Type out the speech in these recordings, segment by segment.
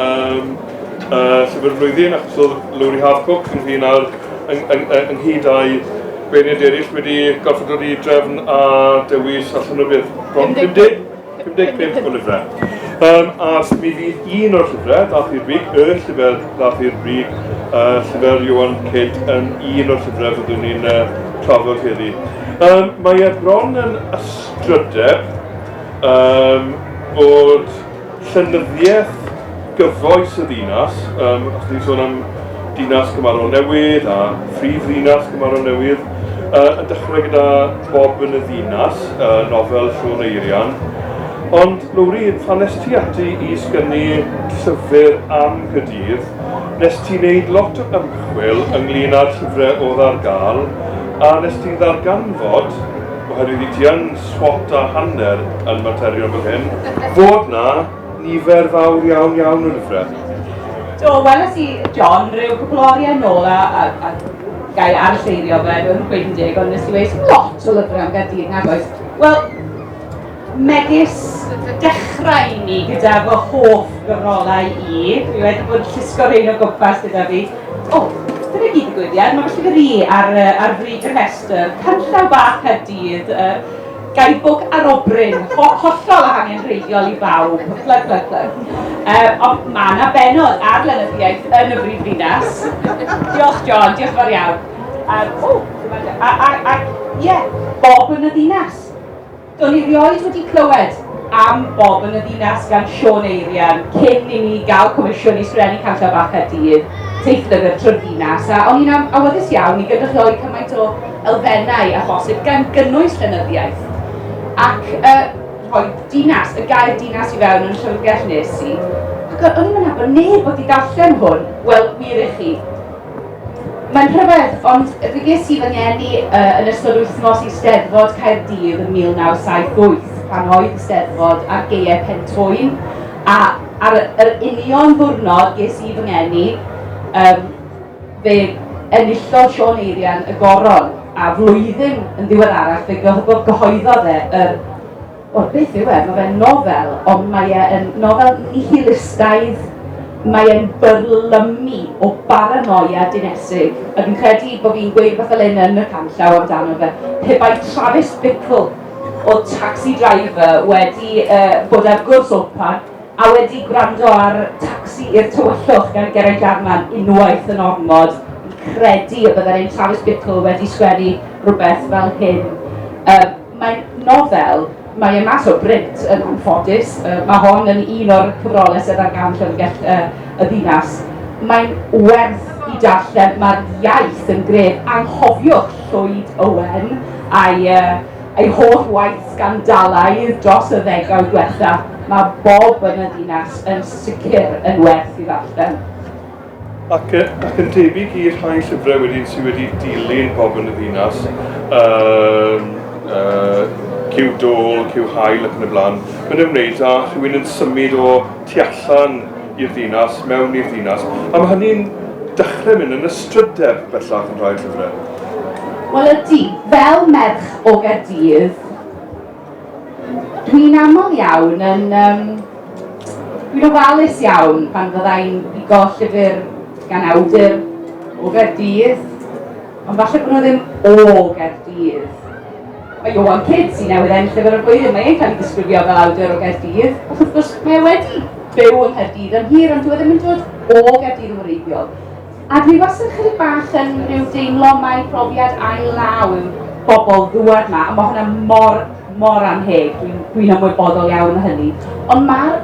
Am y llyfr y flwyddyn, achos oedd Lowri Harcourt yn hun ar ynghyd â'i beirniad eraill wedi gorfod dod i drefn a dewis allan o beth, bron 50? 55 o lyfrau. Um, a mi fydd un o'r llyfrau ddath i'r brig, y llyfr ddath i'r brig, uh, llyfr Johan Cyd yn un o'r llyfrau fyddwn ni'n uh, trafod heddi. Um, mae e bron yn ystrydeb um, bod llenyddiaeth gyfoes y ddinas, um, os ni'n sôn am dinas Cymaro Newydd a phrif ddinas Cymaro Newydd, uh, yn dechrau gyda Bob yn y ddinas, uh, nofel Siôn Eirian. Ond, Lowri, pan nes ti ati i sgynnu llyfr am Gydydd, nes ti'n neud lot o ymchwil ynglyn â'r llyfrau oedd ar gael, a nes ti'n ddarganfod, oherwydd i ti yn swat a hanner yn materion fel hyn, fod 'na nifer fawr iawn iawn yn y ffret. Do, weles i, John, rhyw cwpl o oriau nôl a, a, a ga i arseirio fe, rwy'n nhw'n gweud yn deg, ond nes i weis lot o lyfrau am Gaerdydd nag oes. Wel, megis dechrau i ni gyda fy hoff gyfrolau i, dwi wedi bod yn llusgo rhein o gwmpas gyda fi, O, dyna gyd digwyddiad. Mae felly fi ar, ar frig y rhestr. Canllaw bach Caerdydd, uh, gaibwg arobryn, ho hollol a hangenrheidiol i bawb. Plug, plug, plug. Uh, ond mae yna benod ar lenyddiaeth yn y brif ddinas. Diolch John, diolch fawr iawn. Um, o, a, a, a, ie, yeah, bob yn y ddinas. Do'n i rioed wedi clywed am Bob yn y Ddinas gan Siôn Eirian cyn i mi gael comisiwn i sgrennu Canllaw Bach Caerdydd, teithlyfr trwy'r ddinas, a o'n i'n am- awyddus iawn i gynrychioli cymaint o elfennau â phosib, gan gynnwys llenyddiaeth. Ac yy, rhoi dinas, y gair dinas i fewn yn llyfrgell nes i, ac o'n i'm yn nabod neb wedi darllen hwn, wel, wir i chi, Mae'n rhyfedd, ond fe ges i fy ngeni uh, yn ystod wythnos i Steddfod Caerdydd yn 1978, pan oedd y Steddfod ar geiau Pentwyn, a ar yr union ddwrnod ges i fy ngeni, um, fe enillodd Sean Eirian y goron, a flwyddyn yn ddiweddarach fe gyhoeddodd e yr Wel, beth yw e? Mae fe'n nofel, ond mae e yn nofel nihilistaidd. Mae e'n byrlymu o baranoia dinesig. A fi'n credu bod fi'n gweud rhywbeth fel hyn yn y canllaw amdano fe. Pe bai Travis Bickle o Taxi Driver wedi uh, bod ar gwrs open a wedi gwrando ar Taxi i'r Tywyllwch gan Geraint Jarman unwaith yn ormod, credu y byddai'n ein Travis Bickle wedi sgwennu rhywbeth fel hyn. Uh, Mae nofel Mae e mas o brint, yn anffodus. Mae hon yn un o'r cyfrolau sydd ar gael yn Llyfrgell y Ddinas. Mae'n werth i darllen, mae'r iaith yn gref. Anghofiwch Llwyd Owen a'i ei holl waith sgandalaidd dros y ddegawd diwetha'. Mae bob yn y ddinas yn sicr yn werth i ddarllen. Ac yn debyg i'r rhai llyfrau wedyn sydd wedi dilyn pobl yn y ddinas, um, uh, cyw dôl, cyw hael ac yn y blaen, mae'n ymwneud â rhywun yn symud o tu allan i'r ddinas, mewn i'r ddinas. A mae hynny'n dechrau mynd yn y strydeb bellach yn rhai llyfrau. Wel ydy, fel merch o Gaerdydd, Dwi'n aml iawn yn... Um, dwi'n ofalus iawn pan fyddai'n bigo llyfr gan awdur o Gaerdydd, ond falle bod nhw ddim o Gaerdydd. Mae Johan Kidd sy'n newydd ennill llyfr y flwyddyn, mae e'n cael ei disgrifio fel awdur o Gaerdydd, ac wrth gwrs mae wedi byw yn Nghaerdydd yn hir, ond dwi e ddim yn dod o Gaerdydd yn wreiddiol. A dwi wastad ychydig bach yn rhyw deimlo mai profiad ail law yw bobl ddŵad ma, a mae hwnna mor, mor anheg, dwi'n dwi ymwybodol iawn o hynny. Ond mae'r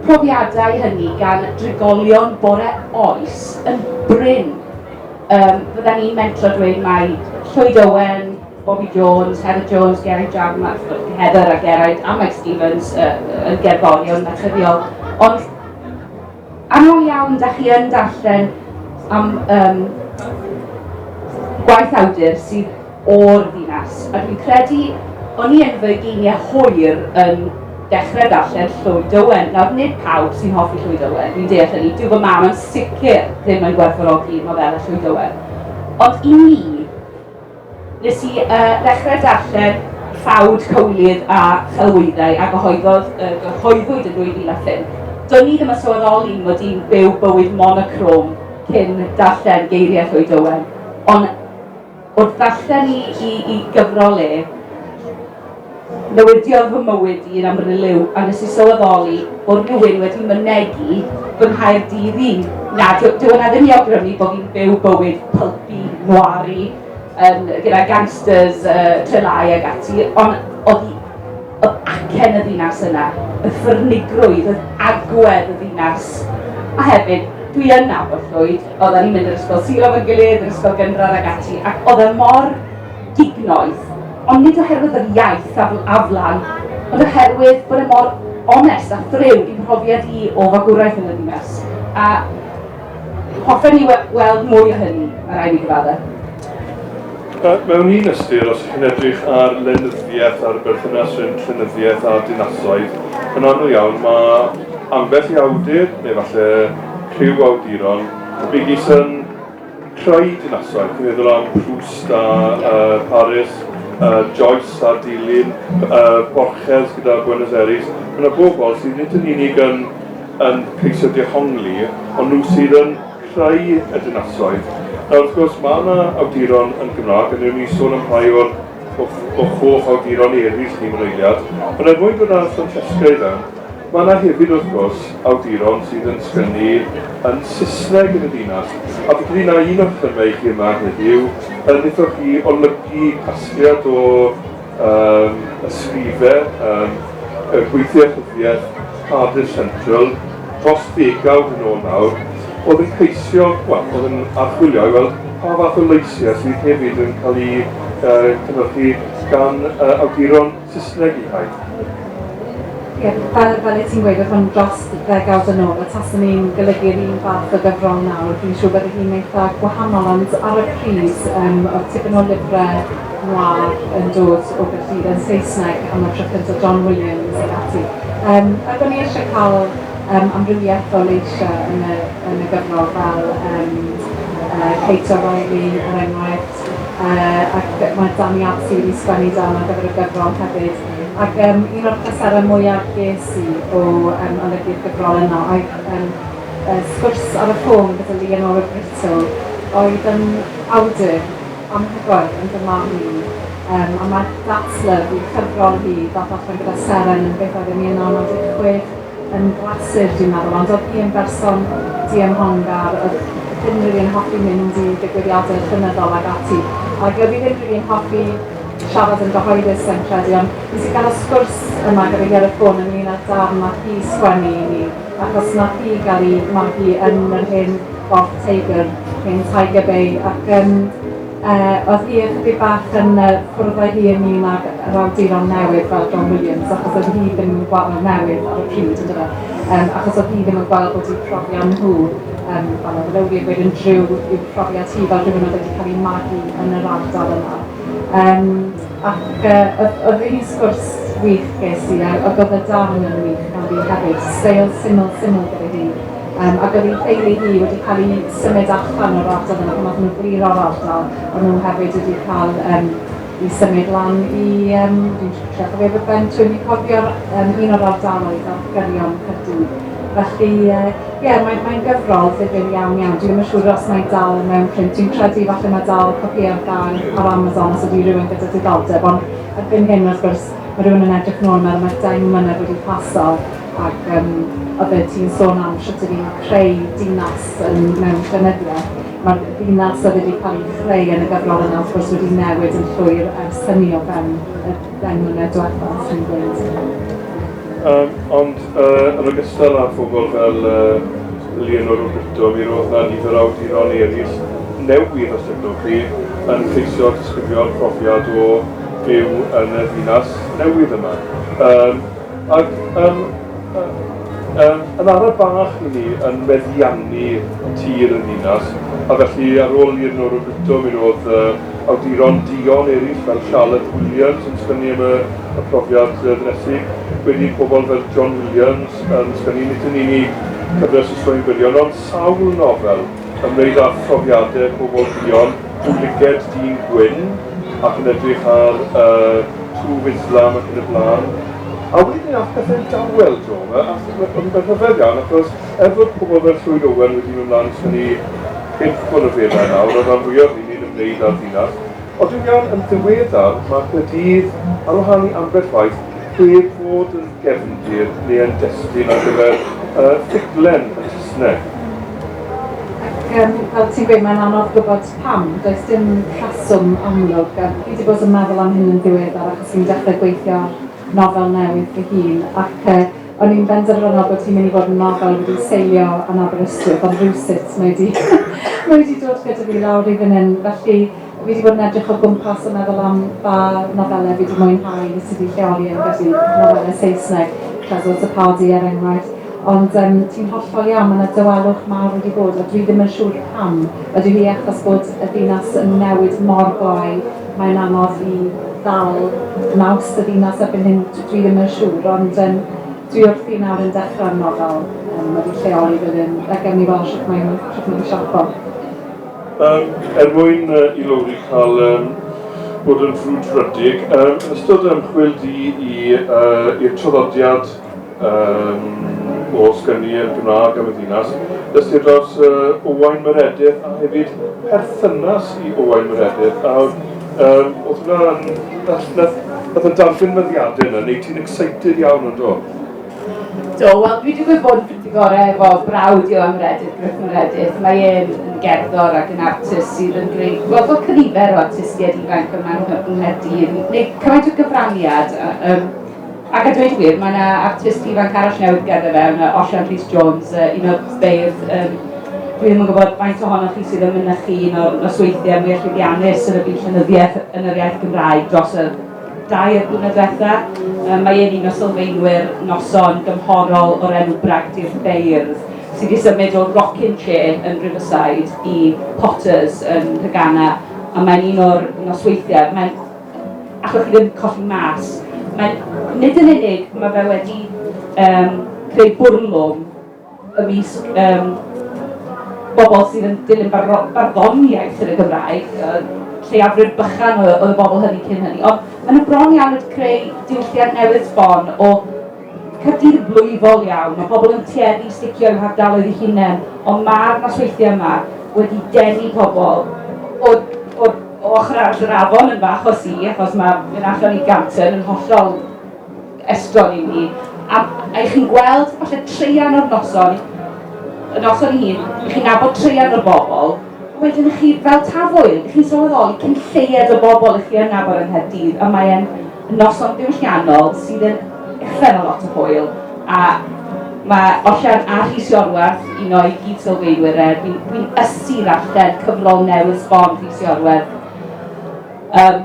profiadau hynny gan drigolion bore oes yn brin. Um, fydda ni'n mentro dweud mai Llwyd Owen, Bobby Jones, Heather Jones, Geraint Jarman, a Heather a Geraint a Mike Stevens uh, yn gerddorion naturiol. Ond Aml iawn da chi yn darllen am um, gwaith awdur sydd o'r ddinas, a dwi'n credu o'n i yn fy geiniau hwyr yn dechrau darllen Llwyd Owen. Nawr, nid pawb sy'n hoffi Llwyd Owen, dwi'n deall hynny, dyw fy mam yn sicr ddim yn gwerthfawrogi nofela Llwyd Owen. Ond i mi, Nes i ddechrau darllen Ffawd, Cywilydd a Chelwyddau a gyhoeddodd y gyhoeddwyd yn 2005. Do'n i ddim yn sylweddoli mod i'n byw bywyd monochrome cyn darllen Geiriau Llwyd Owen, ond wrth ddarllen i i i gyfrol e, Newidiodd fy mywyd i yn amryliw a nes i sylweddoli bod rhywun wedi mynegi fy Nghaerdydd i. Na, dyw, dyw yna ddim i awgrymu bod fi'n byw bywyd pulpy, noiry, um, gyda gangsters, uh, trelai ag ati, ond oedd hi oedd acen y ddinas yna, y ffyrnigrwydd, yr agwedd y ddinas. A hefyd, dwi yn nabod Llwyd, oedden ni'n mynd i'r ysgol sir efo'n gilydd, yr ysgol gynradd ac ati, ac oedd e mor dignoeth, ond nid oherwydd yr iaith a wlad, ond oherwydd bod e mor onest a thriw i mhrofiad i o fagwraeth yn y ddinas, a hoffen i weld mwy o hynny, mae rhaid mi gyfadde'. Mewn un ystyr, os chi'n edrych ar lenyddiaeth a'r berthynas rhwng llenyddiaeth a dinasoedd, yn aml iawn mae ambell i awdur, neu falle rhyw awduron, megis yn Rhai dinasoedd, dwi'n meddwl am Proust a uh, Paris, uh, Joyce a Dilyn, uh, Borges gyda Buenos Aires, mae yna bobl sydd nid yn unig yn, yn ceisio dehongli, ond nhw sydd yn creu y dinasoedd. Nawr, wrth gwrs, mae yna awduron yn Gymraeg, a newn ni sôn am rhai o'r o, o hoff awduron eraill ni mewn eiliad, ond er mwyn bod yna Francesca i fewn, Mae yna hefyd, wrth gwrs, awduron sydd yn sgynnu yn Saesneg yn y dinas, a fi'n credu na un o'ch themâu chi yma heddiw yn wnaethoch chi olygu casgliad o um, ysgrife um, y gweithiau rhyddiaeth Cardiff Central dros ddegawd yn ôl nawr, oedd yn ceisio, wel, oedd yn archwilio i weld pa fath o leisiau sydd hefyd yn cael eu uh, cynhyrchu gan uh, awduron Saesneg i Hyde. Ie, fel, fel y ti'n gweud, oedd hwn dros ddegawd yn ôl, a tasen ni'n golygu'r un fath o gyfrol nawr, fi'n siŵr bydde hi'n eitha' gwahanol, ond ar y pryd, yym, oedd tipyn o lyfre noir yn dod o gyllide yn Saesneg am y tro cynta', John Williams ac ati. Yym, ac o'n i eisie cael, yym, amrywiaeth o leisiau yn y, yn y gyfrol, fel, yym, yy, Kate O'Reilly, er enghraifft. Ac mae Danny Abs wedi sgwennu darn ar gyfer y gyfrol hefyd. Ac um, un o'r pleserau mwyaf ges i o um, olygu'r gyfrol yno oedd um, uh, sgwrs ar y ffôn gyda Leonora Brito, oedd yn awdur anhygoel yn fy marn i. Um, a mae That's Love, i'r cyfrol hi, ddath allan gyda Seren yn beth oedd yn 1916, yn glasur dwi'n meddwl ond oedd hi yn berson diymhongar oedd ddim rili yn hoffi mynd i ddigwyddiadau llenyddol ag ati ac oedd hi ddim rili yn hoffi siarad yn gyhoeddus sa'n credu ond nes i gael y sgwrs yma gyda hi ar y ffôn ynglyn â'r darn nath hi sgwennu i ni achos nath hi gael ei magu yn yr hen Fourth Tiger, hen Tiger Bay ac yym Yy, oedd hi ychydig bach yn yy cwrdd â hi ynglyn â'r yr awduron newydd fel John Williams achos oedd hi ddim yn gweld... Wel newydd ar y pryd yndyfe? Yym achos oedd hi ddim yn gweld bod eu profion nhw yym wel oedd Rowley yn gweud yn driw i'w profiad hi fel rhywun oedd wedi cael ei magu yn yr ardal yna. Yym ac yy oedd oedd rili sgwrs wych ges i a a oedd y darn yn wych ganddi hefyd, steil syml syml gyda hi. Yym ac oedd ei theulu hi wedi cael ei symud allan o'r ardal yna pan oedden nhw'n glirio'r ardal, ond nhw hefyd wedi cael um, i symud lan i, um, dwi'n trio cofio fy ben, dwi'n ni cofio'r um, un o'r ardaloedd ar gyrion Cyrdydd. Felly, ie, uh, yeah, mae'n mae gyfrol ddifur iawn iawn. Dwi'n yn siŵr os mae'n dal mewn print. Dwi'n credu falle mae dal copi ar gael ar Amazon os ydy rhywun gyda diddordeb, ond erbyn hyn, wrth gwrs, mae rhywun yn edrych nôl mewn, mae dau mlynedd wedi paso, Ac yym oeddet ti'n sôn am shwt ydy ni'n creu dinas yn mewn llenyddiaeth. Mae'r ddinas oedd wedi cael ei chreu yn y gyfrol yna wrth gwrs wedi newid yn llwyr ers hynny o fewn y deng mlynedd diwetha, os ti'n gweud. Um, ond uh, yn ogystal â phobl fel uh, Leonor Roberto, mi roedd na nifer awduron eraill newydd a chefnogi yn ceisio disgrifio'r profiad o byw yn y ddinas newydd yma. Um, Ac yym yym yn araf bach i ni yn meddiannu tir y ninas, a felly ar ôl i'r Nora Britto, mi roedd yy awduron duon eraill fel Charlotte Williams yn sgynnu am y y profiad yy ddinesig, wedyn i pobl fel John Williams yn sgynnu nid yn unig cyfres o straeon byrion ond sawl nofel ymwneud â phrofiadau pobl duon, Dw liced dyn gwyn ac yn edrych ar y twf Islam ac yn y blaen. A wedyn mi ath pethe'n dawel draw ma a ma ma fe'n rhyfedd iawn achos er fod pobl fel Llwyd Owen wedi mynd mlan i synnu urdd o ryfeddau nawr a ran fwya o hyn yn ymwneud â'r ddinas ond dwi'n iawn yn ddiweddar ma Caerdydd ar wahân i ambell waith heb fod yn gefndir neu yn destun ar gyfer yy ffuglen yn Sysneg. Ac yym fel ti'n gweud mae'n anodd gwybod pam, does dim rheswm amlwg a fi wedi bod yn meddwl am hyn yn ddiweddar achos fi'n dechrau gweithio ar nofel newydd fy hun ac yy o'n i'n benderfynol bod hi'n mynd i fod yn nofel wedi seilio yn Aberystwyth ond rywsut mae wedi mae wedi dod gyda fi lawr i fan hyn felly Fi 'di bod yn edrych o gwmpas a meddwl am ba nofelau fi 'di mwynhau sydd wedi lleoli yn Gaerdydd, nofelau Saesneg, Creswell to Pardee er enghraifft. Ond yym ti'n hollol iawn, mae 'na dawelwch mawr wedi bod a dwi ddim yn siŵr pam. Ydy hi achos bod y ddinas yn newid mor glou, mae'n anodd i ddal naws y ddinas erbyn hyn? Dwi dwi ddim yn siŵr, ond yym dwi wrthi nawr yn dechrau'r nofel yym wedi lleoli fy hun, a gawn ni weld shwt mae'n shwt mae'n siapo. Um, er mwyn uh, i Lowri cael um, bod yn frwdfrydig, um, yn ystod ymchwil di i'r uh, traddodiad um, o sgynnu yn Gymraeg am y ddinas, dysgu dros uh, Owain Meredydd a hefyd perthynas i Owain Meredydd. A um, oedd hwnna'n... Nath y darllen meddiadau yna, neu ti'n excited iawn o'n do? Do, wel dwi wedi gwybod bod Pretty Gore efo brawd i o am Meredydd, Gruff Meredydd. Mae e'n yn gerddor ac yn artist sydd yn gwneud wel, fel cynifer o artistiaid ifanc yma yng Nghaerdydd, wneud cymaint o gyfraniad. Um, ac a dweud wir, mae yna artist ifanc arall newydd gerdded fe, yna Osian Rhys Jones, uh, un o'r beirdd um, dwi ddim yn gwybod faint ohonoch chi sydd yn mynychu un o'r nosweithiau mwyaf llwyddiannus yn y byd llenyddiaeth yn yr iaith Gymraeg dros y Dair blynedd diwetha', yy mae e'n un o sylfaenwyr noson gymhorol o'r enw Bragdy'r Beirdd, sy' 'di symud o rockin' chair yn Riverside i Potters yn Nhegana, a mae'n un o'r nosweithie, mae'n allwch chi ddim colli mas, mae'n nid yn unig ma' fe wedi yym creu bwrlwm, ymysg yym bobl sydd yn dilyn barddon- barddoniaeth yn y Gymraeg, yy lleiafrif bychan o oedd y bobl hynny cyn hynny, ond maen nhw bron iawn wedi creu diwylliant newydd sbon o Caerdydd yn blwyfol iawn, mae pobl yn tueddu i sticio i'w hardaloedd eu hunain, ond mae'r nosweithiau yma wedi denu pobl o, o, o ochr arall yr afon yn fach o si, achos mae mynd allan i Ganton yn hollol estron i mi, a ych chi'n gweld falle treian o'r noson, y noson i hun, ych chi'n nabod treian o'r bobl, wedyn ych chi fel tafwyl, ych chi'n sylweddoli cyn lleied o bobl ych chi yn nabod yng Nghaerdydd, y mae e'n noson ddiwylliannol sydd yn uffern o lot o hwyl, a mae Osian a Rhys Iorwerth, un o'i gyd sylweidwyr e, fi'n fi ysu ddarllen cyfrol newydd sbon Rhys Iorwerth. Um,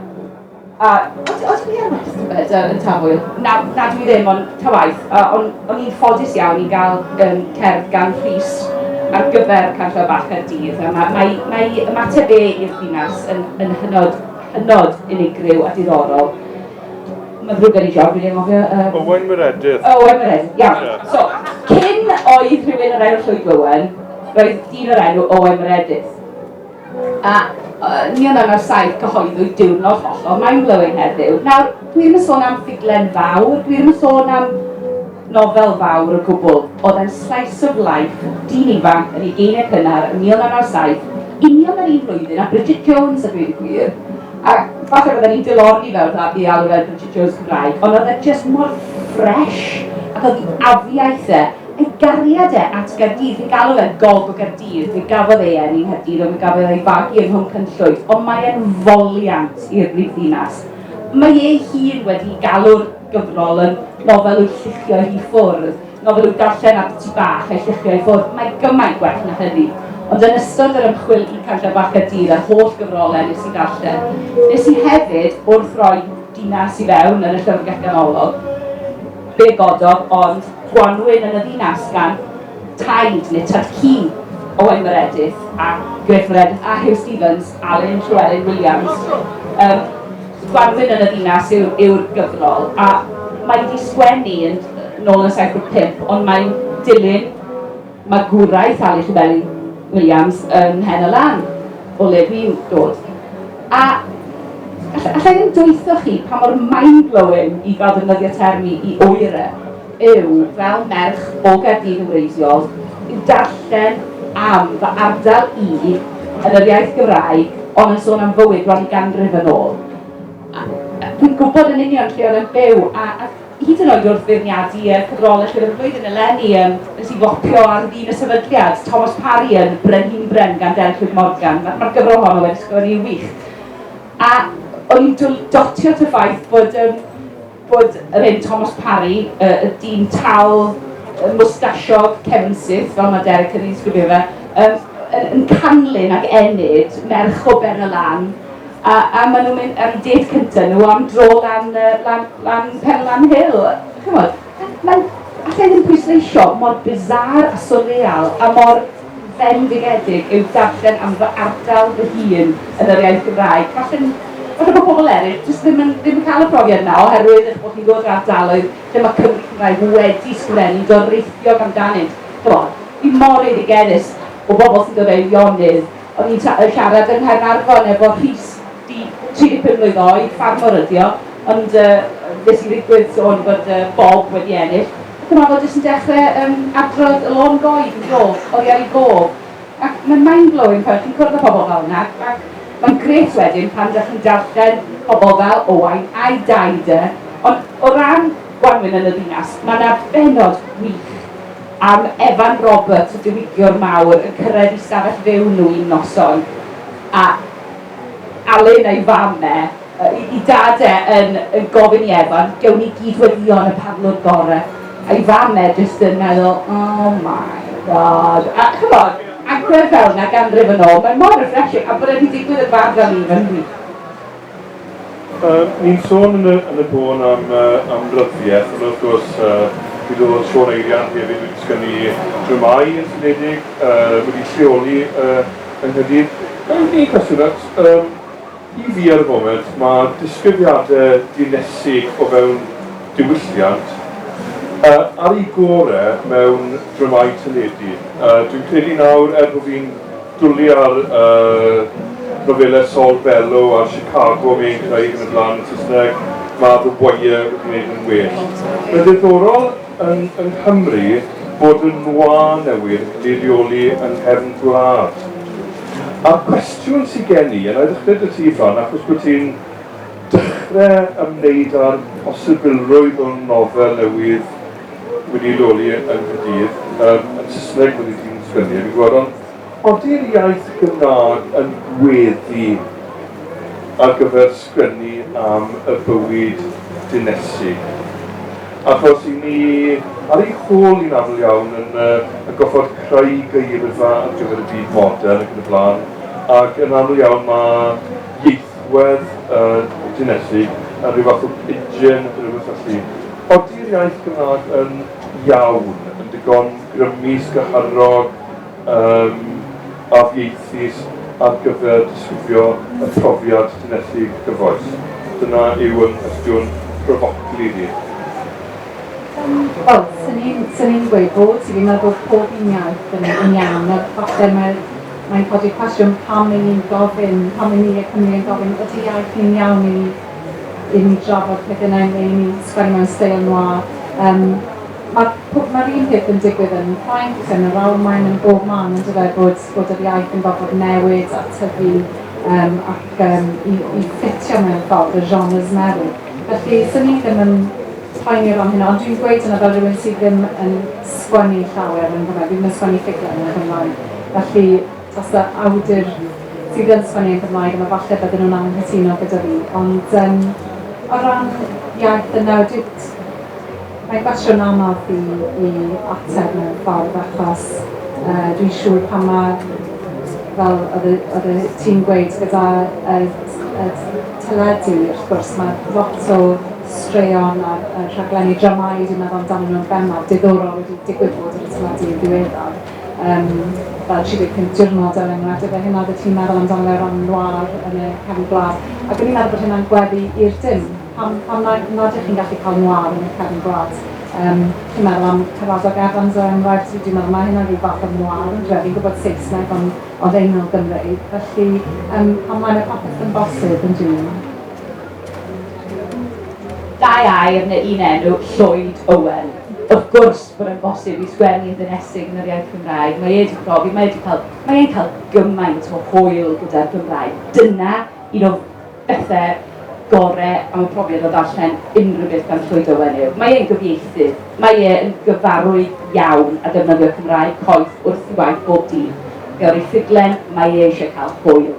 A o't o't ti yn Westford yy yn Tafwyl? Na, na dwi ddim, ond ta waeth. A o'n o'n i'n ffodus iawn i gael um, cerdd gan Rhys ar gyfer Canllaw Bach Caerdydd. A mae, mae, mae ymateb e i'r ddinas yn, yn hynod, hynod unigryw a diddorol. Mae'n ddrwg gen i, John, dwi'n anghofio... Um... Owen Meredydd. Owen Meredydd, iawn. Yeah. So, cyn oedd rhywun yr enw Llwyd Owen, roedd dyn o'r enw Owen Meredydd. A ni yn un o'r saith cyhoeddwyd diwrnod hollol mind-blowing heddiw. Nawr, dwi ddim yn sôn am ffuglen fawr, dwi ddim yn sôn am nofel fawr o gwbl. Oedd e'n slice of life, dyn ifanc yn ei geiniau cynnar yn 1997, union yr un flwyddyn a Bridget Jones a dweud y gwir. A falle bydden ni'n dilorni fel pla i alw fel Bridget Jones Cymraeg, ond oedd e jyst mor fresh ac oedd ei afiaith e Ei gariad e at Gaerdydd, fe galw fe Gob Gaerdydd, fe gafodd ei eni Nghaerdydd ond fe gafodd ei fagu ym Mhoncynclwyd, ond mae e'n foliant i'r brifddinas. Mae ei hun wedi galw'r gyfrol yn nofel i'w lluchio i ffwrdd, nofel i'w darllen ar dŷ bach a'i lluchio i ffwrdd, mae gymaint gwell na hynny. Ond yn ystod yr ymchwil i Cantref Bach Caerdydd a'r holl gyfrolau nes i ddarllen, nes i hefyd, wrth roi dinas i fewn yn y llyfrgell ganolog, Fe gododd ond gwanwyn yn y ddinas gan Taid neu Tŷd Ci Owen Meredith a Gwynfred a Huw Stephens, Alun Llewelyn Williams. Yym, Gwanwyn yn y ddinas yw'r yw gyfrol, a mae 'di sgwennu yn nôl yn 75, ond mae'n dilyn Magwraeth Sali Llefelli Williams ym Mhen y Lan, o le dwi'n dod. A alla, alla i ddim dweutho chi pa mor mind-blowing, i gael defnyddio termi i oera, yw, fel merch o Gaerdydd yn wreiddiol, yw darllen am fy ardal i yn yr iaith Gymraeg, ond yn sôn am fywyd bron i ganrif yn ôl. A dwi'n gwybod yn union lle oedd e'n byw, a, a hyd yn oed wrth feirniadu y cyfrolau Llyfr y Flwyddyn eleni, yym, nes i fopio ar fin y sefydliad, Thomas Parry yn Brenhinbren gan Derek Hugh Morgan, mae'r ma gyfrol honno wedi sgwennu'n wych. A o'n i'n dotio at y ffaith bod, um, bod yr hyn Thomas Parry, y, y dyn tal, y mwstasiog, Kevin Sith, fel mae Derek yn ei sgrifio fe, um, yn, yn canlyn ac enid merch o ben y lan, A a maen nhw'n mynd am dêt cynta' nhw am dro lan yy lan lan Penlan Hill. Chimod, mae'n... alla i ddim pwysleisio mor bizarre a swrreal a mor fendigedig yw darllen am fy ardal fy hun yn yr iaith Gymraeg. Falle'n... falle bod pobl eraill jyst ddim yn ddim yn cael y profiad yna oherwydd eich bod chi'n dod o'r ardaloedd lle mae Cymry Cymraeg wedi sgreni doreithiog amdanynt. Chimod, fi mor eiddigeddus o bobl sy'n dod o Eirionydd, O'n i'n yy siarad yng Nghaernarfon efo Rhys, di- tri deg pum mlwydd oed, ffarmwr ydi o, ond yy nes i ddigwydd sôn bod yy Bob wedi ennill, ac yma fo jyst yn dechre yym adrodd y lôn goed yn do, oddi ar ei gof, ac mae'n mind-blowing pan chi'n cwrdd â pobl fel yna, ac mae'n grêt wedyn pan dach chi'n darllen pobl fel Owain a'i daid e, ond o ran gwanwyn yn y ddinas, ma' 'na bennod wych. Am Evan Roberts y diwygiwr mawr yn cyrraedd i stafell fyw nhw un noson a Alun a'i fam e, i dad e yn yn gofyn i Evan, gewn ni gyd weddion y parlwr gore, a'i fam e jyst yn meddwl oh my God a ch'mod agwedd fel 'na ganrif yn ôl mae mor refreshing a bod e 'di digwydd yn fab fel Evan wi Ni'n sôn yn y, yn y bôn am uh, am ryddiaith, ond wrth gwrs, uh, mi ddodd Siôn Eirian hefyd wedi sgynnu dramau yn syniedig, uh, wedi lleoli uh, yng Nghydydd. Gael i chi cwestiwn at, um, i fi ar y foment, mae disgrifiadau dinesig o fewn diwylliant uh, ar ei gore mewn dramau teledu. Uh, dwi'n credu nawr, er bod fi'n Dulliau'r nofelau Saul Bellow a Chicago, Mae ein Craig yn y Blaen yn Saesneg, Mab y Bwye yn gwneud yn well. Mae'n ddiddorol yn yng Nghymru bod y nwa newydd yn cael ei reoli yng nghefn gwlad. A'r cwestiwn sy gen i, a na i ddechrau 'da ti Fran achos bod ti'n dechrau ymwneud â'r posibilrwydd o nofel newydd wedi leoli yng Nghaerdydd, yr yn Saesneg wedi dinistrynnu ag yn Gwaron. Ydy'r iaith Gymraeg yn gweddu ar gyfer sgwennu am y bywyd dinesig? Achos i ni, ar ei hôl ni'n aml iawn yn yn gorfod creu geirfa ar gyfer y byd modern ac yn y blaen, ac yn aml iawn mae Werth y Dinesig a rhyw fath o pidgin neu rhywbeth felly. Odi'r iaith Gymraeg yn iawn, yn digon grymus, gynharog, yym, afieithus ar gyfer disgrifio y profiad Dinesig gyfoes? Dyna yw 'y nghwestiwn pryfoclyd i. Yym, wel, 'swn i'n 'swn i'n gweud bod, 'swn i'n meddwl bod pob un iaith yn yn iawn, ond falle mae'r Mae'n codi cwestiwn pam i ni'n gofyn, pam i ni a Cymru yn gofyn, ydy iaith ni'n iawn i ni, i ni drafod peth yna neu i ni sgwennu mewn steil noir. Um, Mae'r ma un peth yn digwydd yn Ffrainc, yn yr Almaen, yn bob man yn dyfa bod, bod yr iaith yn gorfod newid a tyfu um, ac um, i, i ffitio mewn ffordd y genres newydd. Felly, sy'n ni ddim yn poeni o ran hynna, ond dwi'n gweud yna fel rhywun sydd ddim yn sgwennu llawer yn Gymraeg, ddim yn sgwennu ffuglen yn Gymraeg. Felly, os yw awdur sydd yn sgwennu yn Gymraeg, yna falle bydden nhw'n anghytuno gyda fi. Ond yym o ran iaith yn newid, mae'n gwestiwn anodd i i ateb mewn ffordd, achos yy dwi'n siŵr pan ma', fel oedd y oedd y ti'n gweud, gyda y y teledu, wrth gwrs, ma' lot o straeon a a rhaglenni dramâu dwi'n meddwl amdanyn nhw'n bennaf, diddorol, wedi digwydd bod ar y teledu yn ddiweddar. Yym, fel 35 diwrnod er enghraifft, efe hyn oeddet ti'n meddwl amdano fe o ran noir yn y cefn gwlad, ac o'n i'n meddwl bod hynna'n gweddu i'r dim. Pam, pam na, nad ydych chi'n gallu cael noir yn y cefn gwlad? Yym, chi'n meddwl am Caradog Evans er enghraifft, dwi, dwi'n meddwl mae hynna'n rhyw fath o noir on'd yw e? Fi'n gwybod Saesneg ond, ond ein nol Gymreig, felly yym, pam mae yna popeth yn bosib yn June? Dau air neu un enw, Llwyd Owen. Wrth gwrs! bod yn bosib i sgwennu yn ddinesig yn yr iaith Gymraeg. Mae e 'di profi, mae e 'di cael, mae e'n cael gymaint o hwyl gyda'r Gymraeg. Dyna un o bethe gore am y profiad o ddarllen unrhyw beth gan Llwyd Owen yw, mae e'n gyfieithydd, mae e yn gyfarwydd iawn â defnyddio Cymraeg coeth wrth ei waith bob dydd. Fe awn ni ffuglen, mae e eisiau cael hwyl.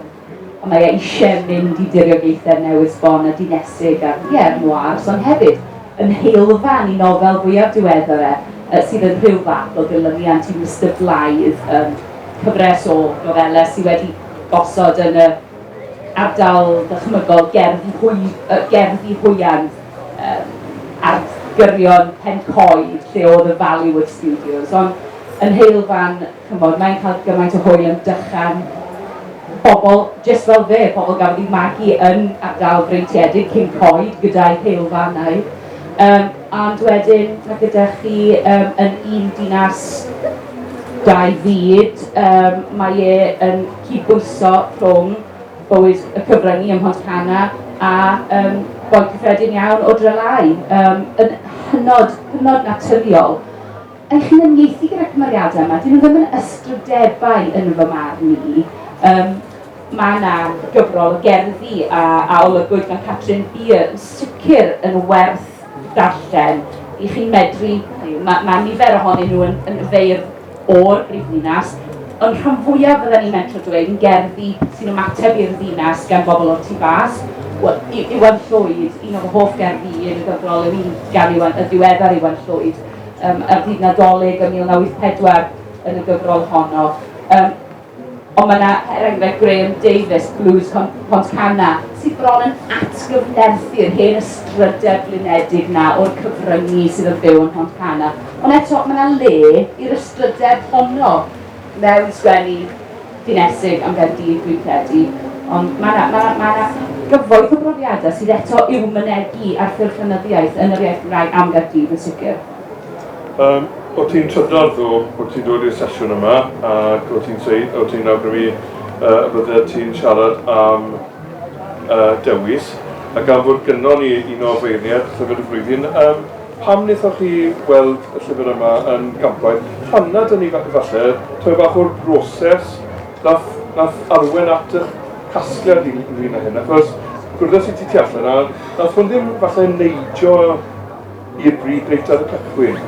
A mae e eisiau mynd i diriogaethau newydd sbon a dinesig a, ie, yn wars, ond hefyd yn heulfan i nofel fwyaf diweddar e, yy, sydd yn rhyw fath o ddilyniant i Mister Blythe, yym, cyfres o nofelau sydd wedi gosod yn y ardal ddychmygol gerddi hwy-, yy, gerddi hwya'n, yym, ardgyrion Pen-coed lle oedd y Valleyward Studios, ond yn heulfan. Ch'mod, mae'n cael gymaint o hwyl yn Dychan. Pobl jyst fel fe, pobl gafodd eu magu yn ardal freintiedig cyn coed gyda'u heulfannau. Yym, ond wedyn mae gyda chi yym yn un dinas, dau fyd. Yym, mae e yn cydbwyso rhwng bywyd y cyfryngu ym Mhontcanna a yym boi cyffredin iawn o Drylau. Yym, yn hynod, hynod naturiol. Yn cynganiaethu gyda'r cymeriadau yma, 'dyn nhw ddim yn ystrydebau yn fy marn i. Yym, mae yna gyfrol o gerddi a, a olygwyd gan Catrin Beer yn sicr yn werth darllen i chi medru, mae, mae nifer ohonyn nhw yn, yn feirdd o'r brifddinas, ond rhan fwyaf fydden ni'n mentro dweud yn gerddi sy'n ymateb i'r ddinas gan bobl o'r tu fas. Wel, Iwan Llwyd, un o fy hoff gerddi yn y gyfrol yw un gan Iwan, y diweddar Iwan Llwyd, um, ar ddydd Nadolig yn 1984 yn y gyfrol honno. Um, ond mae yna, er enghraifft, Graham Davis, Blues Pontcanna, sydd bron yn atgyfnerthu'r hen ystrydau blinedig na o'r cyfryngu sydd yn byw yn Pontcanna. Ond eto, mae yna le i'r ystrydau honno mewn sgwennu dinesig am Gaerdydd dwi'n credu, ond mae 'na, mae 'na, mae 'na gyfoeth o brofiadau sydd eto i'w mynegi ar ffurf llenyddiaeth yn yr iaith Gymraeg am Gaerdydd yn sicr. Um, o ti'n trydar ddo, o ti'n dod i'r sesiwn yma, ac o ti'n dweud, o ti'n awgrymu uh, y bydde ti'n siarad am uh, dewis, ac am fod gynnon ni un o feirniaid llyfr y flwyddyn um, Pam wnaethoch chi weld y llyfr yma yn gampwaith? Pan na, dyna ni falle tamed bach o'r broses wnaeth wnaeth arwain at eich casgliad yn ynglyn â hyn, achos gwrddais i ti tu allan a wnaeth hwn ddim falle neidio i'r bridd reit ar y cychwyn.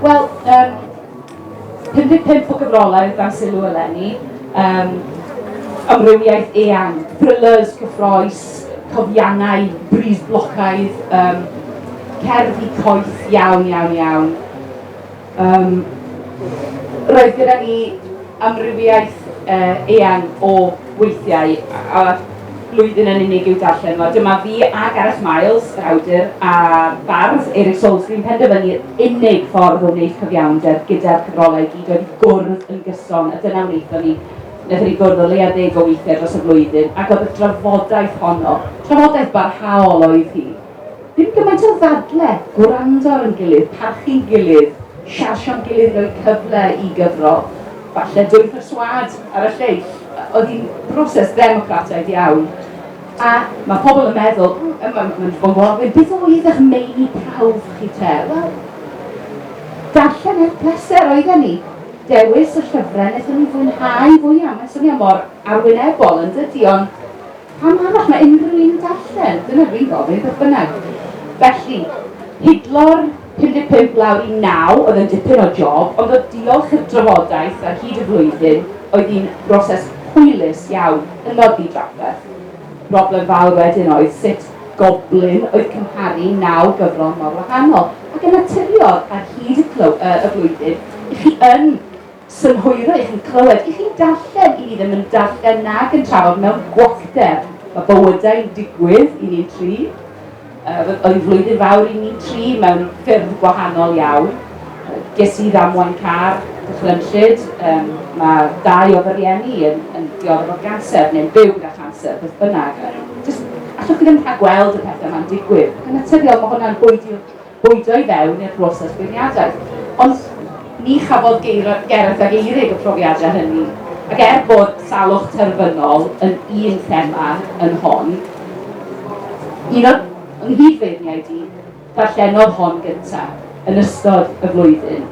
Wel, yym, 55 o gyfrolau oedd dan sylw eleni, um, amrywiaeth eang, thrillers, cyffroes, cofiannau, bris blocaidd, um, cerddi coeth iawn, iawn, iawn. Um, roedd gyda ni amrywiaeth uh, eang o weithiau, a blwyddyn yn unig i'w darllen fo. Dyma fi a Gareth Miles, yr awdur a bardd Eric Salisbury yn penderfynu'r unig ffordd o wneud cyfiawnder gyda'r cyfrolau i gyd oedd i gwrdd yn gyson, a dyna wnaethon ni. Wnaethon ni gwrdd o leia deg o weithiau dros y flwyddyn, ac oedd y drafodaeth honno, trafodaeth barhaol oedd hi, Dim gymaint o ddadle, gwrando ar ein gilydd, parchu'n gilydd, siarsio'n gilydd, rhoi cyfle i gyfro, falle dwy pherswâd ar y lleill. Oedd hi'n broses ddemocrataidd iawn. A mae pobl yn meddwl, mae'n ma, ma bod gofyn, beth oedd eich meini prawf chi te? Wel, darllen eich pleser oedden ni. Dewis y llyfrau wnaethon ni fwynhau fwyaf. Mae'n swnio mor arwynebol yn dydy, ond Pam arall mae unrhyw un yn darllen? Dyna dwi'n gofyn, beth bynnag. Felly, hidlo'r 55 lawr i 9 oedd yn dipyn o job, ond oedd diolch i'r drafodaeth ar hyd y flwyddyn oedd hi'n broses hwylus iawn yn nodi drafferth. Broblem fawr wedyn oedd sut goblyn oedd cymharu 9 gyfrol mor wahanol ac yn naturiol ar hyd y, clyw, uh, y flwyddyn i chi yn synhwyro i chi clywed, i chi darllen, i ni ddim yn darllen nag yn trafod mewn gwacter. Mae bywydau'n digwydd i ni'n tri. Uh, oedd hi'n flwyddyn fawr i ni'n tri mewn ffyrdd gwahanol iawn. Uh, ges i ddamwain car, dychrynllyd, um, mae dau o fy rieni yn, yn dioddef o ganser neu'n byw gyda chanser, beth bynnag. Just, allwch chi ddim rhag gweld y pethau yma'n digwydd. Yn naturiol, mae hwnna'n bwyd i'r bwydo i fewn i'r broses beirniadaeth. Ond ni chafodd Gareth ag Eirig y profiadau hynny, ac er bod salwch terfynol yn un thema yn hon, un o nghyd-feirniaid i, ddarllenodd hon gyntaf yn ystod y flwyddyn.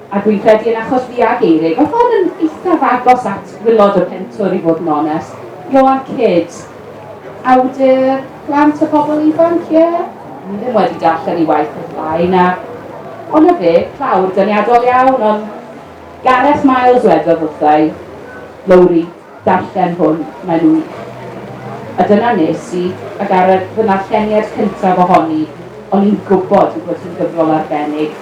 A dwi'n credu yn achos fi ag Eirig, o'dd hon yn eithaf agos at wilod y pentwr i fod yn onest. Ioan Kidd, awdur plant a phobl ifanc, ie? Dwi ddim wedi darllen 'i waith o'r blaen, a o 'na fe, clawr doniadol iawn, ond Gareth Miles wedodd wrtha i, Lowri, Darllen hwn, mae'n wych. A dyna nes i, ac ar y, fy narlleniad cyntaf ohoni, o'n i'n gwybod ei bod hi'n gyfrol arbennig.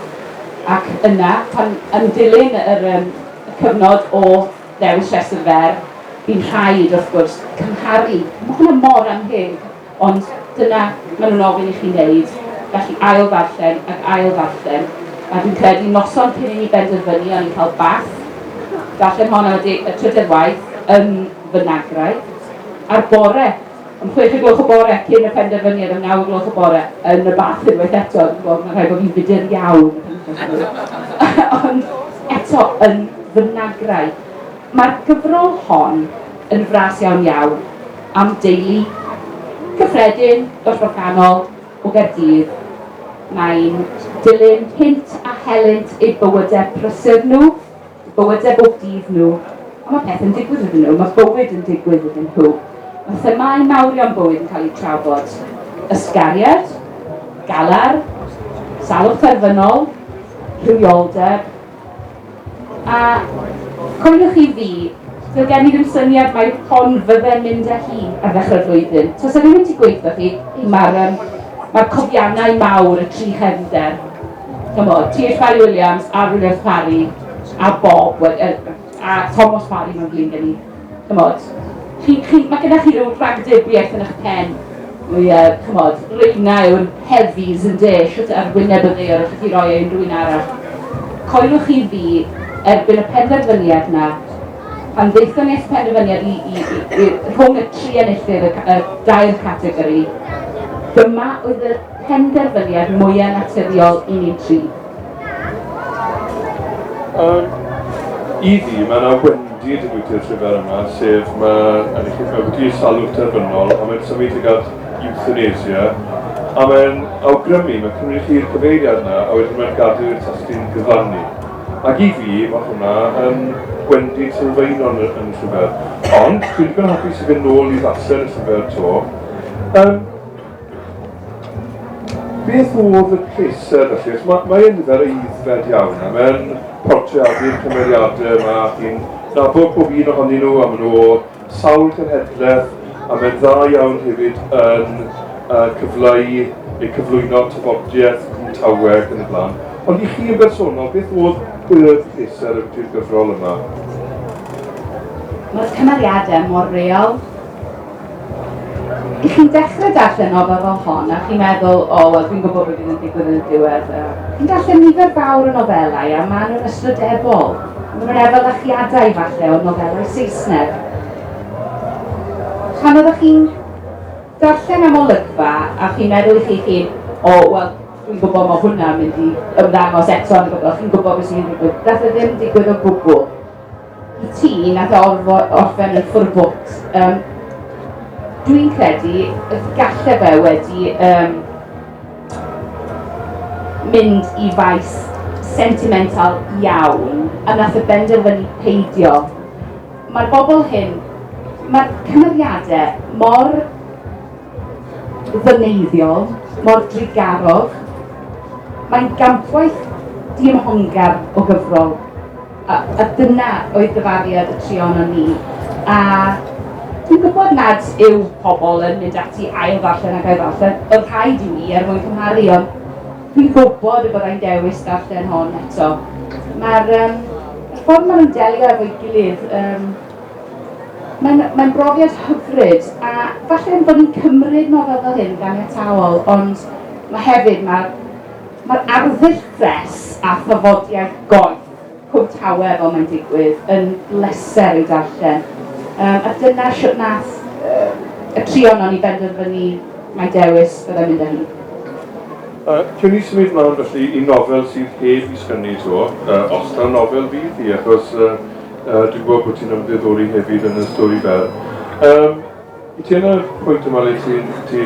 Ac yna, pan, yn dilyn yr, yym, y cyfnod o ddewis rhestr fer, bu'n rhaid, wrth gwrs, cymharu. Mae hwnna mor annheg. Ond dyna maen nhw'n ofyn i chi wneud, felly ail-ddarllen ac ail-ddarllen, a dwi'n credu noson cyn i ni benderfynu o'n i'n cael bath, darllen hon am y deg y trydedd waith yn fy nagraig, a'r bore, am chwech o gloch y bore, cyn y penderfyniad, am naw o gloch y bore, yn y bath unwaith eto, dwi'n gwybod, mae'n rhaid bod fi'n fudur iawn yn y penwythnos hwnnw, ond eto yn fy nagraig. Mae'r gyfrol hon yn fras iawn iawn am deulu cyffredin y Rhoganol o Gaerdydd. Mae'n dilyn hynt a helynt eu bywydau prysur nhw, eu bywydau bob dydd nhw, a mae pethau'n digwydd iddyn nhw, mae bywyd yn digwydd iddyn nhw. Mae themâu mawrion bywyd yn cael eu trafod, ysgariad, galar, salwch terfynol, rhywioldeb, A coeliwch i fi, doedd gen i ddim syniad mai hon fydde'n mynd â hi ar ddechrau'r flwyddyn. Tasa ddim wedi gweithio chi, mae'r um, mae'r cofiannau mawr, y tri chefnder, chymod, Tir Fari Williams, Arwyneb Fari, a Bob, a Thomas Fari mae'n flin gen i. ch'mod, chi'n chi'n... Mae gyda chi ryw ragdybiaeth yn eich pen, o ie, ch'mod, reina yw'r heavies ynde, shwt ar wyneb y ddaear allwch chi roi e i unrhyw un arall. Coeliwch chi fi, erbyn y penderfyniad 'na, pan ddaethon ni at y penderfyniad i i i i rhwng y tri enillydd y ca- y dair categori, dyma oedd y penderfyniad mwya naturiol i ni dri. Yym, i fi, mae yna wendid yn gweithio'r trwydded yma, sef mae yn eich mewn wedi salwch terfynol, a mae'n symud tuag at euthanasia, a mae'n awgrymu, mae'n cymryd chi'r cyfeiriad yna, a wedyn mae'n gadw i'r testyn gyfrannu. Ac i fi, mae hwnna yn gwendid sylfaenol yn, yn y llyfr. Ond, dwi'n digon hapus i fynd nôl i ddarllen y llyfr to. Um, Beth oedd y pleser felly? Mae, mae e'n nifer eiddfed iawn a mae'n portreadu'r cymeriadau yma chi'n nabod pob un ohonyn nhw a maen nhw sawl cenhedlaeth a mae'n dda iawn hefyd yn uh, cyfleu neu cyflwyno tafodiaeth yn taweg yn y blaen. Ond i chi yn bersonol, beth oedd y pleser ydy'r gyfrol yma? Mae'r cymeriadau mor real, I chi'n dechrau darllen nofel fel hon a chi'n meddwl, o, oh, wel, dwi'n gwybod beth yn digwydd yn y diwedd. Chi'n darllen nifer fawr o nofelau a maen nhw'n ysbrydebol. Maen nhw'n efelychiadau falle o nofelau Saesneg. Pan oeddech chi'n darllen am olygfa a chi'n meddwl i chi chi, o, oh, wel, dwi'n gwybod mae hwnna'n mynd i ymddangos eto yn y bobl, chi'n gwybod beth sy'n digwydd. Dath e ddim digwydd o gwbl. ti na gorfo orffen y full books. Um, Dwi'n credu y galle fe wedi um, mynd i faes sentimental iawn a nath y benderfynu peidio. Mae'r bobl hyn, mae'r cymeriadau mor ddyneiddiol, mor drigarog, mae'n gampwaith diymhongar o gyfrol A, a dyna oedd dyfariad y tri ohonon ni. A dwi'n gwybod nad yw pobl yn mynd ati ail ddarllen ac ail ddarllen, oedd rhaid i mi er mwyn cymharu, ond dwi'n gwybod y byddai'n dewis darllen hon eto. Mae'r um, ffordd maen nhw'n delio efo'i gilydd, um, mae'n mae brofiad hyfryd, a falle yn bod ni'n cymryd nofel fel hyn gan etaol, ond mae hefyd, mae'r mae arddull ffres a thafodiaeth goeth Cwm Tawe fel mae'n digwydd, yn bleser ei darllen. Um, a dyna sut nath um, y tri ohono ni benderfynu mae dewis byddai'n mynd â hi. Uh, Cyn i symud mlaen felly i nofel sydd heb i sgynnu to, uh, os na nofel fydd hi, achos uh, uh, dwi'n gwybod bod ti'n ymddiddori hefyd yn y stori fel. Um, Wyt ti yn y pwynt yma le ti, ti,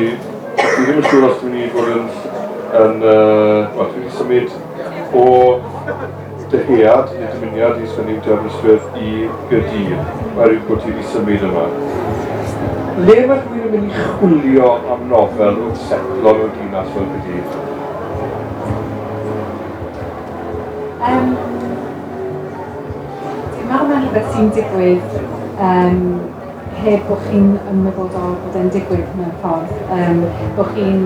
ti ddim yn siŵr os dwi'n i fod yn, yn uh, wel, dwi wedi symud o dyhead neu dymuniad i sgynnu dy Aberystwyth i Gaerdydd, oherwydd bod ti wedi symud yma. Le mae rhywun yn mynd i chwilio am nofel wrth setlo mewn dinas fel Gaerdydd? Um, dwi'n meddwl mae'n rhywbeth sy'n digwydd um, heb bod chi'n ymwybodol bod e'n digwydd mewn ffordd, um, bod chi'n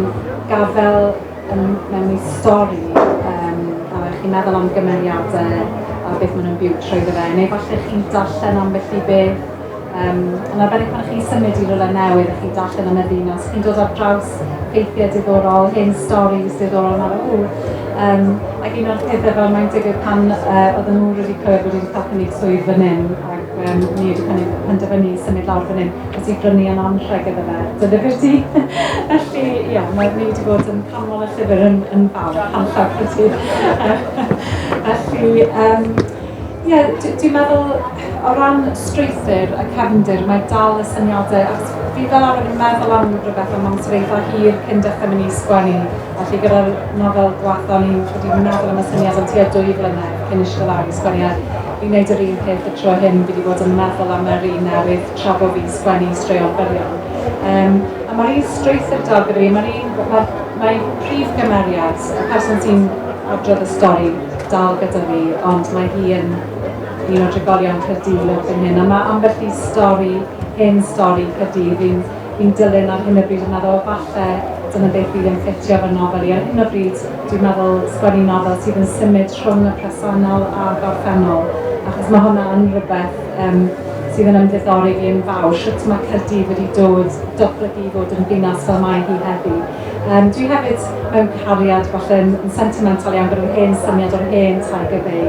gafel um, mewn i stori um, a chi'n meddwl am gymeriadau a beth maen nhw'n byw trwy fe, neu falle chi'n darllen am felly beth Um, yn arbennig pan chi'n symud i rhywle newydd a chi'n darllen yn y ddinas, chi'n dod ar draws ffeithiau diddorol, hen storys diddorol yma o Um, ac un o'r pethau fel mae'n digwydd pan uh, oedden nhw wedi clywed bod wedi cael cynnig swydd fan hyn, ac Yym, ni wedi pennu- penderfynu i symud lawr fan hyn. Wyt ti'n brynu yn anrheg iddo fe, dy lyfr di. Felly, ia, mae, ni wedi bod yn canmol y llyfr yn, yn fawr, canllaw pro ti. Felly, yym, ie, dwi, dwi'n meddwl, o ran strwythur y cefndir, mae dal y syniadau, achos fi fel arfer yn meddwl am rhywbeth am amser eitha hir cyn dechrau mynd i sgwennu. Felly, gyda'r nofel dwetha, o'n i'n, o'n i'n meddwl am y syniad am tua dwy flynedd cyn eistedd lawr i sgwennu e. Fi'n neud yr un peth y tro hyn, fi di bod yn meddwl am yr un newydd tra bo fi'n sgwennu straeon byrion. Um, a mae'r un strwythur da gyda fi, mae'r un, mae, mae prif gymeriad, y person sy'n adrodd y stori dal gyda fi, ond mae hi yn un o drigolion Cyrdydd yn hyn, a mae ambell i stori, hen stori Cyrdydd, fi'n Fi'n dilyn ar hyn o bryd yn meddwl falle dyna beth fydd yn ffitio fy nofel i ar hyn o bryd dwi'n meddwl sgwennu nofel sydd yn symud rhwng y presennol a gorffennol achos mae hwnna yn rhywbeth um, sydd yn ymddiddori fi yn fawr, sut mae Cyrdydd wedi dod doplygu i fod yn ddinas fel mae hi heddi. Um, dwi hefyd mewn cariad falle yn, yn sentimental iawn gyda'r hen syniad o'r hen Tiger Bay.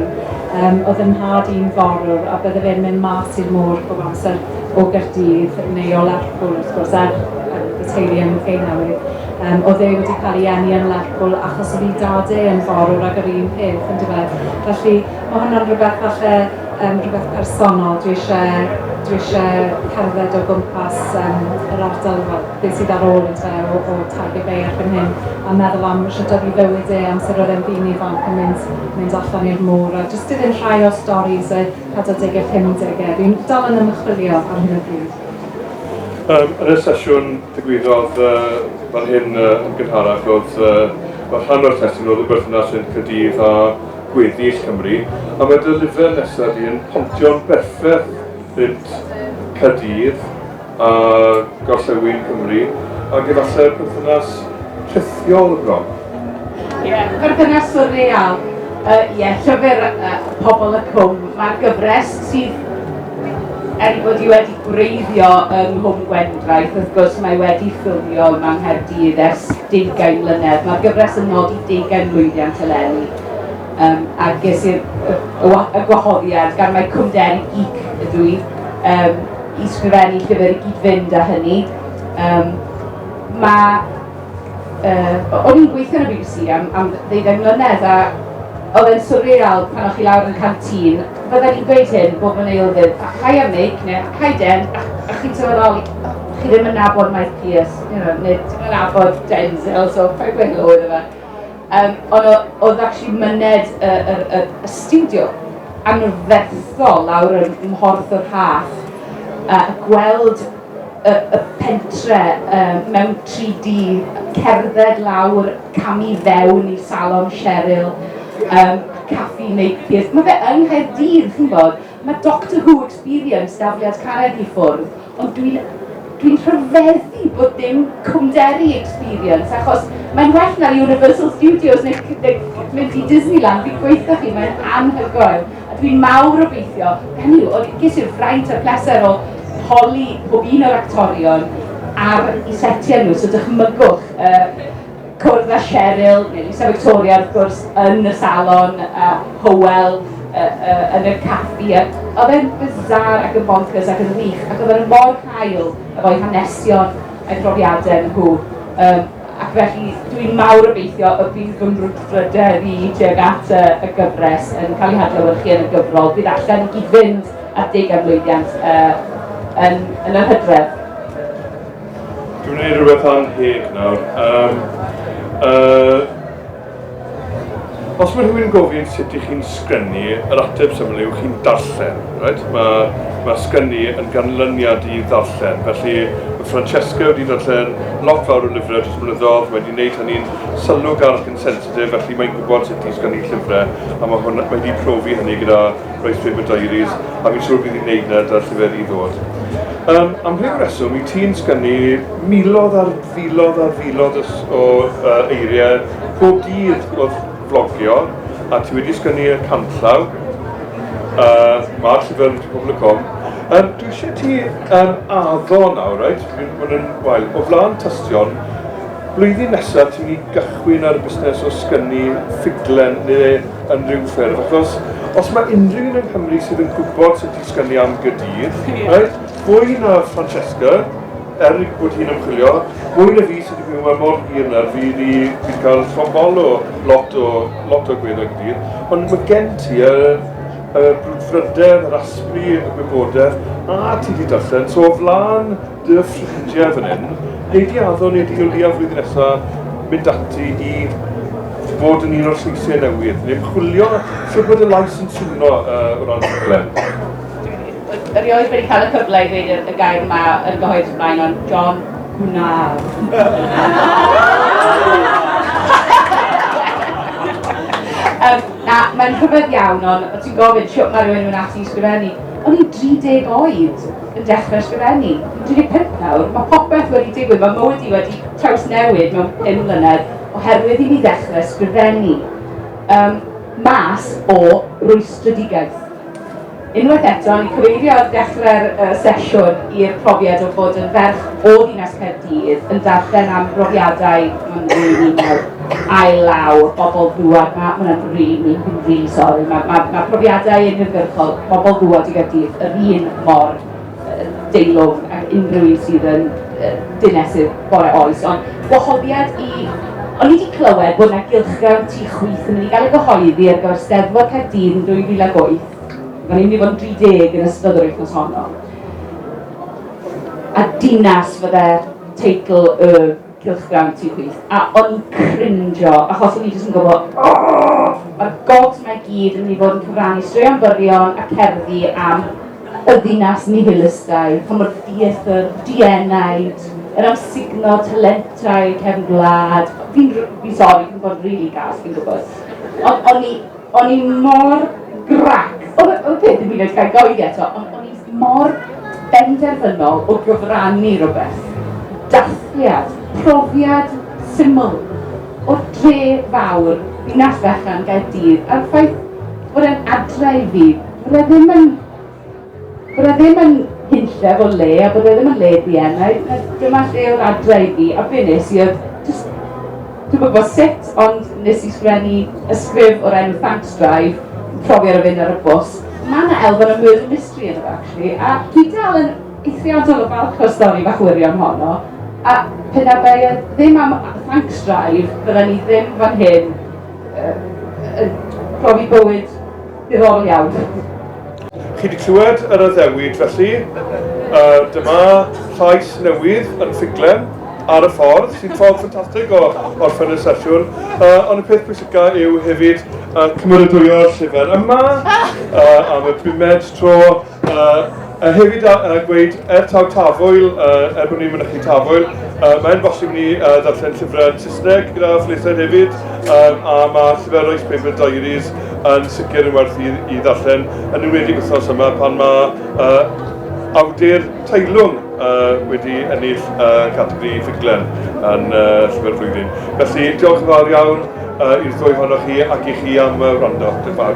Um, oedd yn nhad i'n forwr a bydde fe'n mynd mas i'r môr bob amser o Gaerdydd, neu o Lerpwl wrth gwrs, er um, y teulu yn Mhei Newydd. Um, oedd e wedi cael ei enni yn Lerpwl achos oedd ei dad e yn forwr ag yr un peth, yn dweud. Felly, mae hwnna'n rhywbeth falle, um, rhywbeth personol. Dwi eisiau, dwi eisiau cerdded o gwmpas um, yr ardal, fel, beth sydd ar ôl yn dweud o, o Tiger Bay erbyn hyn, a meddwl am sut oedd ei fywyd e amser oedd e'n ddyn ifanc yn mynd, mynd allan i'r môr, a jyst iddyn rhai o'r storys 40au, 50au. Dwi'n dal yn ymchwilio ar hyn o bryd. Yym, yn y sesiwn ddigwyddodd yy fan hyn yy yn gynharach oedd yy fel rhan o'r testun oedd y berthynas rhwng Caerdydd a gweddill Cymru a mae dy lyfr nesaf di yn pontio'n berffaith rhynt Caerdydd a gorllewin Cymru, ac efallai'r perthynas rhithiol y bron. Ie, perthynas swrreal. Yy, ie, llyfr yy, Pobl y Cwm. Mae'r gyfres sydd er ei bod hi wedi gwreiddio yng Nghwm Gwendraeth, wrth gwrs mae wedi ffilmio yma yng Nghaerdydd ers deugain mlynedd. Mae'r gyfres yn nodi deugain mlwyddiant eleni. Um, a ges i'r y, y, y gwahoddiad gan mae Cwmderi Geek ydw i. Um, i ysgrifennu llyfr i gyd-fynd â hynny. Um, mae... Uh, o'n i'n gweithio yn y BBC am, am ddeuddeg mlynedd a oedd e'n surreal pan o'ch chi lawr yn cael tîn, fydden ni'n gweud hyn bob yn ei oeddydd, a chai am meic neu chai den, a, a chi'n sylweddoli, chi ddim yn nabod Mike Pierce, you know, neu ddim yn nabod Denzel, so fe gweithio oedd yma. Yym, ond o- oedd actually myned y y y y stiwdio anferthol lawr ym Mhorth y Rhath a gweld y y pentre yy mewn 3D, cerdded lawr, camu fewn i Salon Cheryl, yym Caffi Naked, ma' fe yng Nghaerdydd chi'n 'bod. Mae Doctor Who Experience dafliad carreg i ffwrdd, ond dwi'n dwi'n rhyfeddu bod dim cwmderi Experience, achos mae'n well na'r Universal Studios neu, neu mynd i Disneyland, fi'n gweithio chi, mae'n anhygoel. A dwi'n mawr obeithio, hynny yw, oedd ges i'r fraint a'r pleser o holi pob un o'r actorion ar i setiau nhw, so dychmygwch uh, cwrdd â Cheryl, neu Lisa Victoria wrth gwrs, yn y salon, a Hywel uh, uh, yn y caffi. Oedd e'n bizar ac yn bonkers ac yn wych, ac oedd e'n mor cael efo'i hanesion a'i profiadau nhw. Um, ac felly dwi'n mawr obeithio y bydd fy mrwdfrydedd i tuag at y, y gyfres yn cael ei hadlewyrchu yn y gyfrol. Bydd allan i gyd-fynd ar deg am lwyddiant uh, yn, yn yr hydref. Dwi'n ei rhywbeth am hyd nawr. Um, uh, os mae rhywun gofyn sut ych chi'n sgrennu, yr ateb syml yw chi'n darllen. Right? Mae ma sgrennu yn ganlyniad i ddarllen. Felly mae Francesca wedi darllen lot fawr o lyfrau dros blynyddoedd, mae wedi gwneud hynny'n sylw garch yn sensitif, felly mae'n gwybod sut i sgrennu llyfrau, a mae hwn wedi profi hynny gyda Roedd Faber Diaries, a fi'n siŵr bydd hi'n neud na da llyfr i ddod. Um, am rhyw reswm, i ti'n sgynnu milodd ar filodd ar filodd o uh, eiriau bob dydd wrth flogio, a ti wedi sgynnu y canllaw, uh, mae'r llyfr yn pobl y com. Um, dwi eisiau ti um, addo nawr, right? Mae'n wael. O flaen tystion, Blwyddyn nesaf ti'n mynd i gychwyn ar y busnes o sgynnu ffuglen neu unrhyw ffurf achos os mae unrhyw un yng Nghymru sydd yn gwybod sut i sgynnu am Gaerdydd, reit, fwy na Francesca, er ei bod hi'n ymchwilio, fwy na fi sydd wedi byw yma mor hir nawr, fi wedi wedi cael llofol o lot o lot o gweithio Gaerdydd, ond mae gen ti y y brwdfrydedd, yr asbri, y gwybodaeth, a ti wedi darllen, so o flaen Dy ffrindiau fan hyn, wnei di addo neu dy Gymdeithas flwyddyn nesa mynd ati i fod yn un o'r lleisiau newydd, neu ymchwilio sut mae dy lais yn swno uh, o ran rhaglen. Erioed wedi cael y cyfle i ddweud y gair yma yn gyhoeddus blaen, ond John Gwnar. um, na, mae'n rhyfedd iawn, ond ti'n gofyn sio mae rhywun yn ati i sgrifennu. O'n i'n 30 oed. yn dechrau ysgrifennu. Dwi 25 nawr, mae popeth wedi digwydd, mae mywyd i wedi trawsnewid mewn 5 mlynedd oherwydd i mi ddechrau ysgrifennu um, mas o rwystredigaeth. Unwaith eto, ni cyfeirio ar dechrau'r uh, sesiwn i'r profiad o fod yn ferch o ddinas Caerdydd yn darllen am brofiadau yn rwy'n Cael law bobl dŵad ma hwnna'n rili rili sori ma ma ma profiadau uniongyrchol pobl dŵad i Gaerdydd yr un mor deilwng ac unrhyw un sydd yn dinesydd bore oes ond gwahoddiad i O'n i wedi clywed bod yna gylchgrawn tu chwith yn mynd i gael ei gyhoeddi ar gyfer Steddfod Caerdydd yn 2008. Mae'n mynd i fod yn 30 yn ystod yr wythnos honno. A dinas fydde teitl y Cylch fewn ti chwith. A o'n i crinjo, achos o'n i jyst yn gwybod, mae'r gogs mae gyd yn mynd i fod yn cyfrannu straeon byrion a cerddi am y ddinas nihilistau, pan mor dieithr, dienaid, yr amsugno talentau cefn gwlad. Fi'n, fi'n sori, fi'n bod yn rili gas, fi'n gwybod. Ond o'n i O'n i mor grac. Oedd y peth ddim yn ei gael oedi eto, ond o'n i mor benderfynol o gyfrannu rhywbeth. Dathliad, profiad syml o'r dre fawr, ddinas fechan Gaerdydd, a'r ffaith bod e'n adre i fi, fydde ddim yn Bod e ddim yn hunllef o le a bod e ddim yn le bn a dyma lle oedd adre i fi a be nes i oedd just dwi'n gwybod sut ond nes i sgrennu ysgrif o'r enw Thanks Drive profi ar y fynd ar y bws mae yna elfen o murder mystery yn y actually a dwi dal yn eithriadol o falch o'r stori fach wirion honno a pe na fe ddim am Thanks Drive fydda ni ddim fan hyn uh, uh, profi bywyd i'r oriawr. Chi wedi clywed yr addewid felly, uh, dyma llais newydd yn ffuglen ar y ffordd, sy'n ffordd ffantastig o orffen y sesiwn, uh, ond y peth pwysica yw hefyd uh, cymeradwyo'r llyfr yma uh, am y bumed tro, A hefyd a gweud, er taw Tafwyl, er bod ni'n mynychu Tafwyl, mae'n bosib i ni ddarllen llyfrau yn Saesneg gyda phlethaid hefyd, a mae llyfr Royce Paper Diaries yn sicr yn werth i, i ddarllen, yn enwedig wythnos yma pan mae uh, awdur teilwng uh, wedi ennill uh, categori ffuglen yn uh, llyfr flwyddyn. Felly, diolch yn fawr iawn uh, i'r ddwy honoch chi ac i chi am uh, wrando. Dwi'n fawr.